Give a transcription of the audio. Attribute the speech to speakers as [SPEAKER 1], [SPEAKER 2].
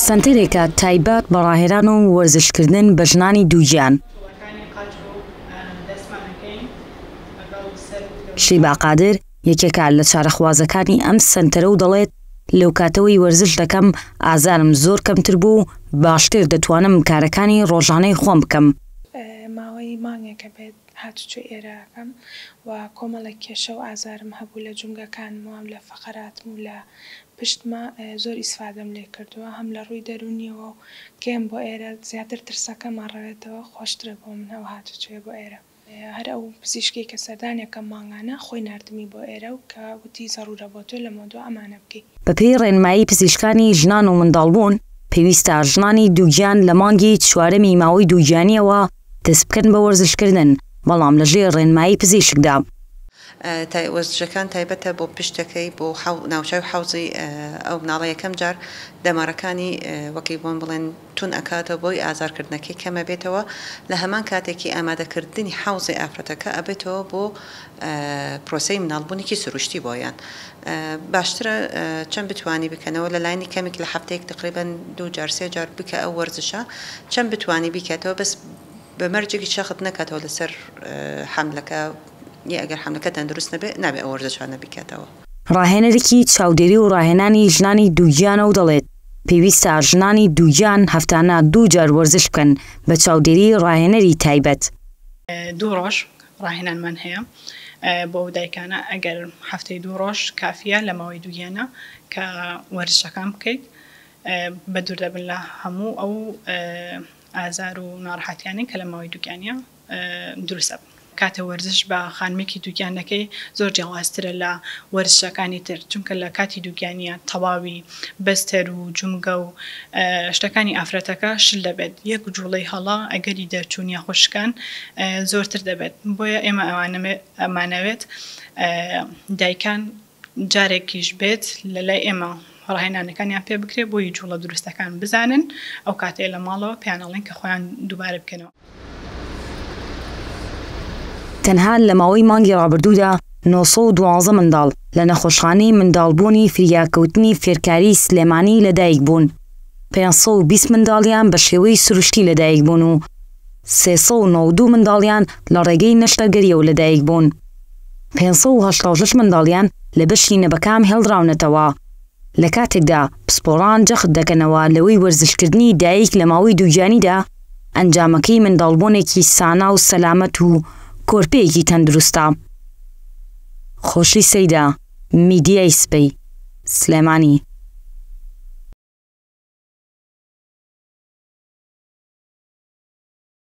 [SPEAKER 1] سەنتەرێکە تایبەت بە ڕاهێنان و وەرزشکردن بە ژنانی دووگیان. شیبا قادر، یەکێکە لە چارەخوازەکانی ئەم سەنتەرە و دەڵێت، لەوکاتەوەی وەرزش دەکەم، ئازارم زۆر کەمتر بوو و باشتر دەتوانم کارەکانی ڕۆژانەی خۆم بکەم. ماوەی
[SPEAKER 2] مانگێکە بێت هاتوچۆی ئێرە ئەکەم و کۆمەڵێک کێشە و ئازارم هەبوو لە جومگەکانمەوە و لە فەقەراتم و لە پشتمە زۆر ئیسفادەم لێ کردووە هەم لە ڕووی دەروونیەوە و کێم بۆ ئێرە زیاتر ترسەکەم ئەڕەوێتەوە خۆشترە بۆ من ئەو هاتوچۆیە بۆ ئێرە هەر ئەو پزیشکەی کە سەردانی ئەکەم مانگانە خۆی ناردمی بۆ ئێرە و کە وتی زەڕوورە بۆ تۆ لەمەودوا ئەمانە بکەی. بە پێی ڕێنمایی
[SPEAKER 1] پزیشکانی ژنان و منداڵبوون پێویستە ژنانی دووگیان لە مانگی چوارەمی ماوەی دووگیانیەوە دەست بکەن بە وەرزشکردن، بەڵام لەژێر ڕێنمایی پزیشکدا.
[SPEAKER 3] وەرزشەکان تایبەتە بۆ پشتەکەی بۆ ناوچەو حەوزی ئەو مناڵە یەکەم جار دەمارەکانی وەک بۆن بڵێن تون ئەکاتەوە بۆی ئازار کردنەکەی کەمەبێتەوە لە هەمان کاتێکی ئامادەکردنی حەوزی ئافرەتەکە ئەبێتەوە بۆ پرۆسەی مناڵبونیکی سروشتی بۆیان باشترە چەند بتوانی بکەنەوە لە لاینی کەمیک لە هەفتەیەک تقریبەن دوو جار سێ جار بکە ئەو وەرزشە چەند بتوانی بیکەتەوە بەس بە مەرجێکی شەخت نەکاتەوە لەسەر حەملەکە یە ئەگەر حەملەکە تەندروست نەبێ نابێ ئەو وەرزشانە بیکەتەوە. ڕاهێنەرێکی
[SPEAKER 1] چاودێری و ڕاهێنانی ژنانی دووگیانە و دەڵێت، پێویستە ژنانی دووگیان هەفتانە دوو جار وەرزش بکەن بە چاودێری ڕاهێنەری تایبەت. دوو
[SPEAKER 4] ڕۆژ ڕاهێنانمان هەیە بۆ ئەو دایکانە ئەگەر هەفتەی دوو ڕۆژ کافیە لە ماوەی دووگیانە کە وەرزشەکان بکەیت بە دوور دەبن لە هەموو ئەو ئازار و ناڕحاتیانی کە لە ماوەی دووگیانە دروست ئەبن. کاتێ وەرزش بە خانمێکی دووگیان دەکەی زۆر جیاوازترە لە وەرزشەکانی تر چونکە لە کاتی دووگیانە تەواوی بەستەر و جومگە و شتەکانی ئافرەتەکە شل دەبێت، یەک جوڵەی هەڵە ئەگەری دەرچوون یاخود شکان زۆرتر دەبێت، بۆیە ئێمە ئەمانەوێت دایکان جارێکیش بێت لەلای ئێمە ڕاهێنانەکانیان پێ بکرێت بۆی جوڵە دروستەکان بزانن، ئەو کاتەی لە ماڵەوە پێیان ئەڵێن کە خۆیان دووبارە بکەنەوە.
[SPEAKER 1] تەنها لە ماوەی مانگی ڕابردوودا نۆ سەد و دوازدە منداڵ لە نەخۆشخانەی منداڵبوونی فریاکەوتنی فێرکاریی سلێمانی لەدایکبوون، پێنج سەد و بیست منداڵیان بە شێوەی سروشتی لەدایکبوون و سێ سەد و نەوەد و منداڵیان لە ڕێگەی نەشتەرگەرییەوە لەدایکبوون، پێنج سەد و هەشتا و شەش منداڵیان لە بەشی نەبەکام هێڵدراونەتەوە. لە کاتێکدا پسپۆڕان جەخت دەکەنەوە لەوەی وەرزشکردنی دایک لە ماوەی دووگیانیدا ئەنجامەکەی منداڵبوونێکی سانا و سەلامەت و کۆرپەیەکی تەندروستە. خۆشی سەیدا، میدیای سبەی، سلێمانی.